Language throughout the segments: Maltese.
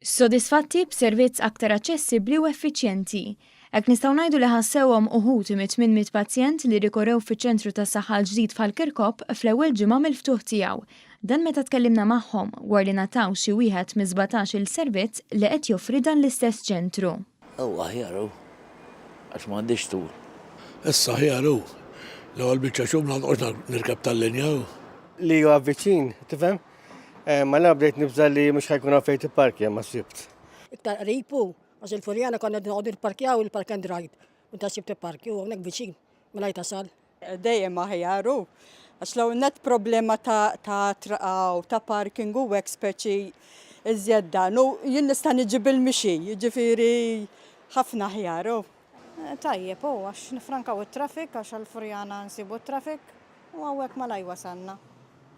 Sodisfatti b'servizz aktar aċċessibbli u effiċjenti. Hekk nistgħu ngħidu li ħassewhom uħud mit minn mit pazjent li rikorew fiċ-ċentru tas-saħħa l-ġdid f'Ħal-Kirkop fl-ewwel ġimgħa mill-ftuħ tiegħu. Dan meta tkellimna magħhom war li ngħataw xi wieħed miż-żbatax-il servizz li qed joffri dan l-istess ċentru. Hu aħjar hu, għax m'għandix tul. Issa aħjar hu. L-ewwel biċċa xhur ma noqgħodx nirkeb tal-linja hu. Li huwa viċin, tifhem? Malajr bdejt nibża' li mhux ħa jkun hawn fejn tipparkja, ma sibt. Iktar qrib hu, għax il-Furjana konna noqogħdu nipparkjaw il-park and ride. Meta ssib tipparkja hu hawnhekk viċin, malajr tasal. Dejjem aħjar hu. Għax l-ewwel nett problema ta' ta' traqgħu, ta' parking u hekk speċi iżjed dan. U jien nista' niġi bil-mixi, jiġifieri ħafna aħjar hu. Tajjeb hu għax nifrankaw it-traffic għax għall-Furjana nsibu t-traffic u hawnhekk malajr wasalna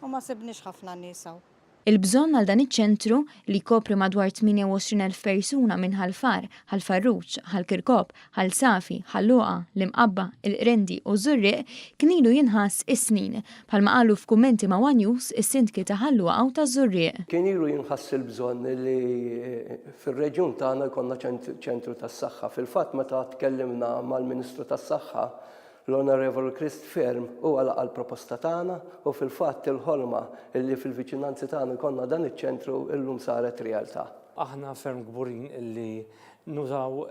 u ma sibniex ħafna nies hawn. Il-bżonn għal dan iċ-ċentru, li jkopri madwar 28,000 persuna minn Ħal Far, Ħal Farruġ, Ħal Kirkop, Ħal Safi, Ħal Luqa, l-Imqabba, il-Qrendi u ż-Żurrieq, kien ilu jinħass is-snin, bħalma qalu f'kummenti ma' one News is-Sindki ta' Ħal Luqa u taż-Żurrieq. Kien ilu jinħass il-bżonn li fir-reġjun tagħna jkollna ċentru tas-saħħa. Fil-fatt meta tkellimna mal-Ministru tas-Saħħa L-Onorevoli Christ Fearne huwa laqa' l-proposta tagħna u fil-fatt il-ħolma li fil-viċinanzi tagħna jkollna dan iċ-ċentru llum saret realtà. Aħna ferm kburin li nużaw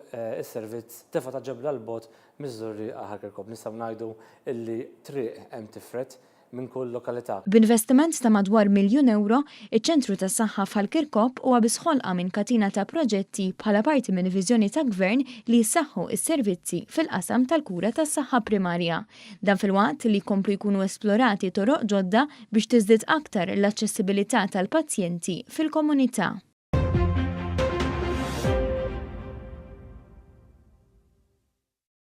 is-servizz Tefa' ta' Ġebla 'l bogħod miż-Żurrieqa-Ħal Kirkop. Nistgħu ngħidu li triq hemm tifred. minn kull lokalità. B'investiment ta' madwar miljun ewro, iċ-Ċentru tas-Saħħa f'Ħal Kirkop huwa biss ħolqa minn katina ta' proġetti bħala parti minn viżjoni ta' Gvern li jissaħħu s-servizzi fil-qasam tal-kura tas-saħħa primarja. Dan filwaqt li jkomplu jkunu esplorati toroq ġodda biex tiżdied aktar l-aċċessibilità tal-pazjenti fil-komunità.